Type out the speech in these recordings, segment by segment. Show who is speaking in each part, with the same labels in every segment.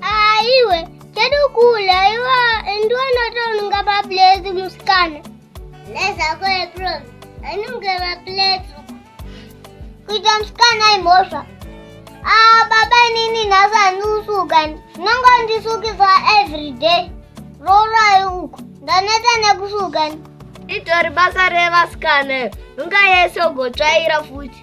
Speaker 1: Aiwe, kedu kule, iwa ndio anatonunga mapleti musikana. Leza kule prom, anunge mapleti. Kuita musikana imosha. Ah, baba nini nasa nusuka, nongo ndisukisa every day. Rora uko, ndaneta nekusuka. Itori
Speaker 2: basa revasikana, nunga yese ugotsvaira futi.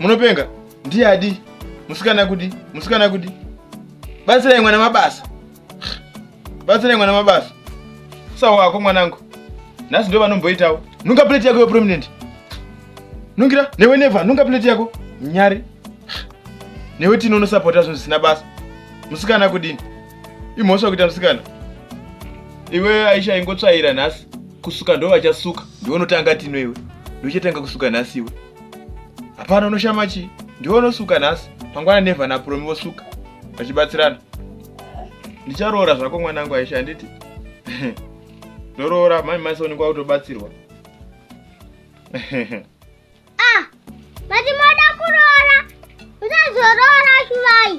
Speaker 3: munopenga ndiye adi musikana kudi musikana kudi batsirai mwana mabasa batsirai mwana mabasa sawa wako mwanangu nhasi ndo vanomboitawo nunga plate yako yoprominent nungira newe neva nunga plate yako nyari newe tino unosapota zvinhu zvisina basa musikana kudini imhosva kuita musikana iwe aisha ingotsvaira nhasi kusuka ndo vachasuka ndiwe unotanga tino iwe ndiwe uchatanga kusuka nhasi iwe hapana unoshama chii ndiwe unosuka nhasi mangwana nevha napuromi vosuka vachibatsirana ndicharoora zvako mwana wangu aisha handiti ndoroora mami maisoni kwa utobatsirwa
Speaker 1: ah, vati moda kuroora usazoroora shuvai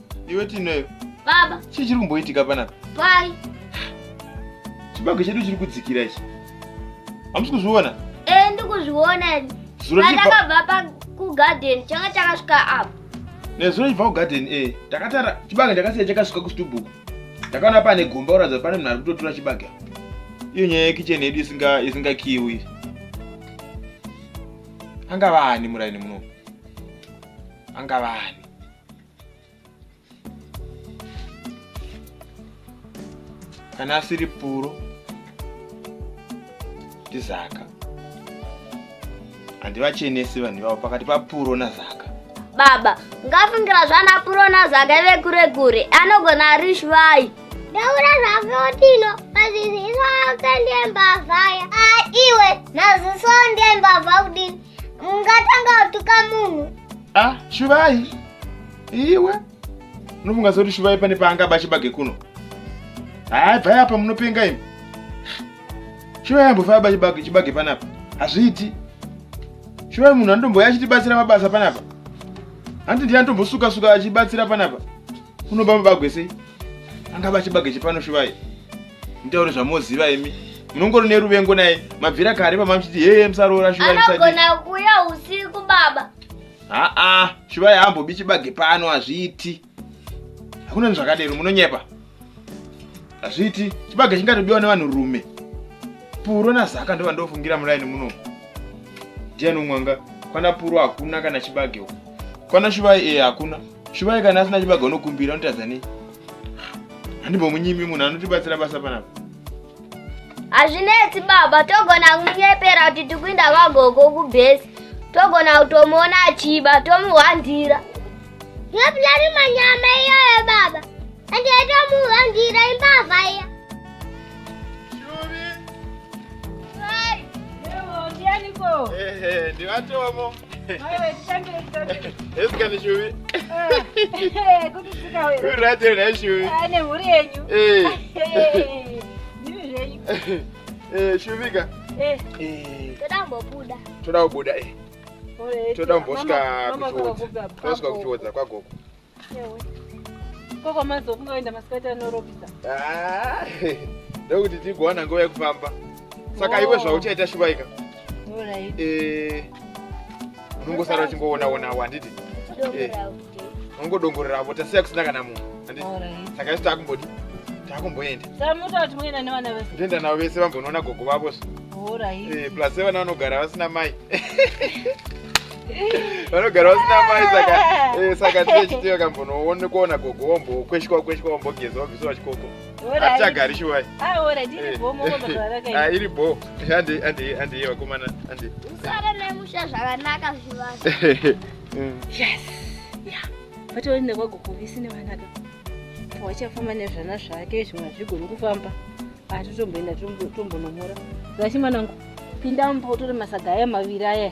Speaker 3: Iwe Tinoyo. Baba. Chii chiri
Speaker 2: kumboitika
Speaker 3: panapa? Pai. Chibage chedu chiri kudzikira ichi. Hamusi kuzviona? Eh, ndikuzviona.
Speaker 2: Zuro chipa. Ndakabva pa ku garden changa chakasvika apa. Nezuro chibva ku
Speaker 3: garden eh. Takatara chibage ndakasiya chakasvika ku stubuku. Ndakaona pane gomba uradza pane munhu ari kutotura chibage. Iyo nyaya yekicheni yedu isinga isinga kiwi. Angava ani muraini muno? Angava ani? kana asiri puro ndizaka handivachenesi vanhu ivavo pakati papuro nazaka baba
Speaker 2: ngafungira zvana puro nazaka ive kure kure anogona ari shwai ndaura
Speaker 1: zvakotino maziziso ake ndiembavhaya aiwe ah, maziso ndiembavha kudini ungatanga kutuka munhu ah shuvai
Speaker 3: iwe unofunga sekuti shuvai pane paangaba chibage kuno haa bvai apa munopenga imi shuvai ambofaya ba chibage chibage panapa hazviiti shuvai munhu anotomboya achitibatsira mabasa panapa hanti ndiye anotombosuka suka achibatsira panapa unoba mabagwe sei angaba chibage chepano shuvai mutaure zvamoziva imi munongori neruvengo naye mabvira kare pamamuchiti heye musaroora shuvai anogona kuuya
Speaker 2: usiku baba haa
Speaker 3: shuvai haambobi chibage pano hazviiti hakuna nezvakadero munonyepa hazviiti chibage chingatobiwa nevanhu rume puro nazaka ndova ndofungira muraini muno ndiani umwanga kwana puro hakuna kana chibage uku kwana shuvai ee eh, hakuna Shuvai kana asina chibaga unokumbira unotadza nei? Handimbomunyimi munhu anotibatsira basa panapa. Hazvinetsi
Speaker 2: baba, togona kumunyepera kuti tikuinda kwagogo kubhesi. Togona kutomuona achiba, tomuhwandira.
Speaker 1: Ndopulani manyama iyoyo baba. Ende tomuhwandira imbavha iya. Ndivaniko?
Speaker 4: Ehe, ndivatomo.
Speaker 3: shuvika
Speaker 4: toda kumbobuda
Speaker 2: toda kubuda
Speaker 3: toda kumbosvika kuchiodza kwagogo
Speaker 4: Koko mazofunga kuenda masikati anorobisa. Ah,
Speaker 3: ndokuti tigowana nguva yekufamba. Saka iwe oh. zvauchaita shuvaika. Alright.
Speaker 4: Eh.
Speaker 3: Unongosara uchingoona ona awo handiti? Eh. Unongodongorera apo tasiya kusina kana munhu. Handiti? Alright. Saka isu
Speaker 4: takumbodi.
Speaker 3: Takumboenda. Saka munotaura kuti muenda
Speaker 4: nevana vese. Ndienda navo vese vambonoona
Speaker 3: gogo vavo. Alright. Eh,
Speaker 4: plus vana vanogara
Speaker 3: vasina mai. vanogara vasina mai saka eh, saka tiye chitiyo kambonoone kuona gogo wombo kweshwa kweshwa wombogeza wabvisa wachikoko hatichagari shuwai
Speaker 4: iri bo
Speaker 3: andiye vakomana andi usara nemusha
Speaker 2: zvakanaka zvivana
Speaker 4: yes ya vatoenda kwagogo visi nevanaka wachafamba nezvana zvake zvimwe zvigoni kufamba atitomboenda tombonomora zvachi mwanangu pinda mumba utore masaga aya maviri aya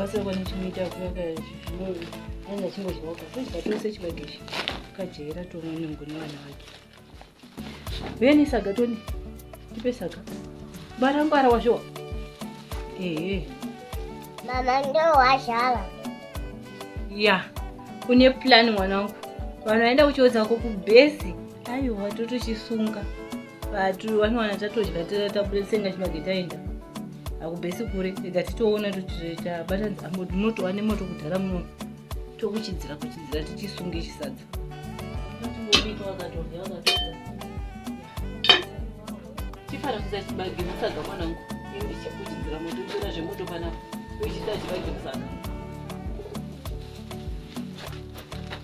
Speaker 4: kubatsira kwane chinoita kuvaka zvinove anga chingodyawo kakuita tose chibage ichi kajaira tomwe nungu nevana vake veni saga toni tipe saga bara ngwara wazvowa ehe
Speaker 1: mama ndowazhala
Speaker 4: ya une plan mwana wangu vanhu vaenda kuchiodza ko kubhesi aiwa totochisunga vatu vanowana tatodya tabuda tsenga chibage taenda hakubhesi kure ega titoona tabata dzambo tinotova nemoto kudhara muno tokuchidzira kuchidzira tichisunge chisadza chifana kuza chibage musaga mwanangu ndichikuchidzira moto uchiona zvemoto panapa uchiita chibage musaga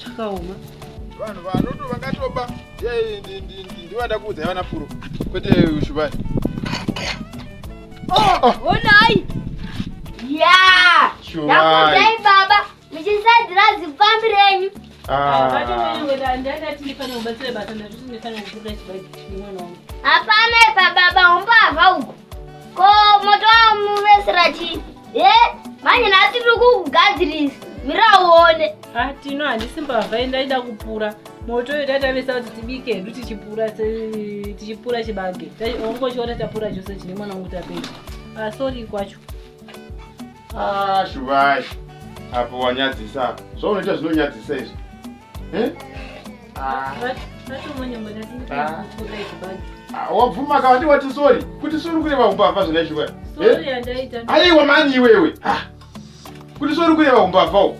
Speaker 4: zvakaoma
Speaker 3: vanhu vanoto vakatoba ndivada kuudza yavana puro kwete ushubani Oh,
Speaker 2: oh, oh. Unai. Yeah. Sure. Now, baba. muchisadzira zipfambi renyu hapana ipa baba umbavha uku ko moto wamuvesera chii e manje nhasi tiri kukugadzirisa mira uone atino handisi
Speaker 4: mbavha indaida kupura moto uyo tatavesa kuti tibike hedu tichipura tichipura chibage ongochiona tapura chose chine mwana wangu tapedza asori ah, kwacho Ah,
Speaker 3: Shuvai. Apo wanyadzisa apa. Zvaunoita zvinonyadzisa izvi. Eh? Ah. Ah, wabvuma kavati wati sorry kuti sorry kureva umbavha zvina Shuvai. Eh?
Speaker 4: Aiwa mani iwewe.
Speaker 3: Ah. Kuti sorry kureva umbavha uwo.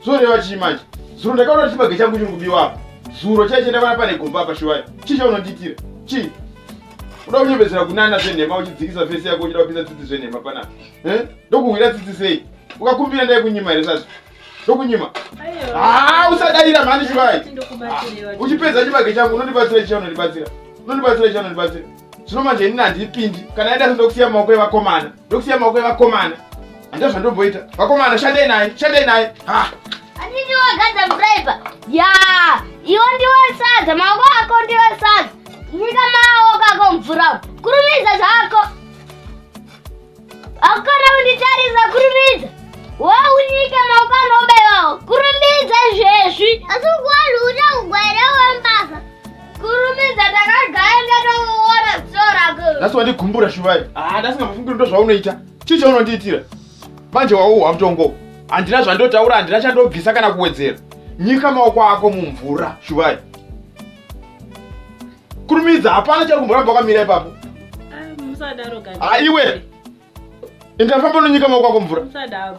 Speaker 3: Zvoreva chii manje? Zuro ndakaona kuti chibage changu chiri kubiwa apa. Zuro chaichenda pana pane gomba apa Shuvai. Chii chaunondiitira? Chii? uda kunyebedzera kunana zvenhema uchidzikisa fesi yako uchida kupisa tsitsi zvenhema panapa eh? ndokuhwira tsitsi sei ukakumbira ndai kunyima here sasa ndokunyima ah,
Speaker 4: usadayira mhani
Speaker 3: chivai ah,
Speaker 4: uchipedza chibage changu
Speaker 3: unondibatsira chicha unondibatsira unondibatsira chicha unondibatsira zvino manje inini handipindi kana yaida sendokusiya maoko evakomana ndokusiya maoko evakomana handina zvandomboita vakomana shandei naye shandei naye ha Anditi
Speaker 2: wagadza muraipa. Ya, iwo ndiwo sadza, maoko ako ndiwo sadza. Nyika maoko ako mvura. umu. Kurumidza zvako. Hakukona kunditarisa kurumidza. Waunyike maoko anobaiwawo. Kurumidza zvezvi. Asi ukuwanhu uta
Speaker 1: kugwaira wembasa. Kurumidza
Speaker 2: takagaya ndatoona ziso rako. Nhasi wandigumbura Shuvai.
Speaker 3: Ah, nhasi ngamufungi ndo zvaunoita. Chii chaunondiitira? Manje wauhwa mutongo. Handina zvandotaura, handina chandobvisa kana kuwedzera. Nyika maoko ako mumvura, Shuvai. Kurumidza, hapana chari kumboramba wakamira ipapo. Ah, musadaro
Speaker 4: kani. Ah, iwe.
Speaker 3: Enda famba unonyika maoko ako mvura. Musadaro.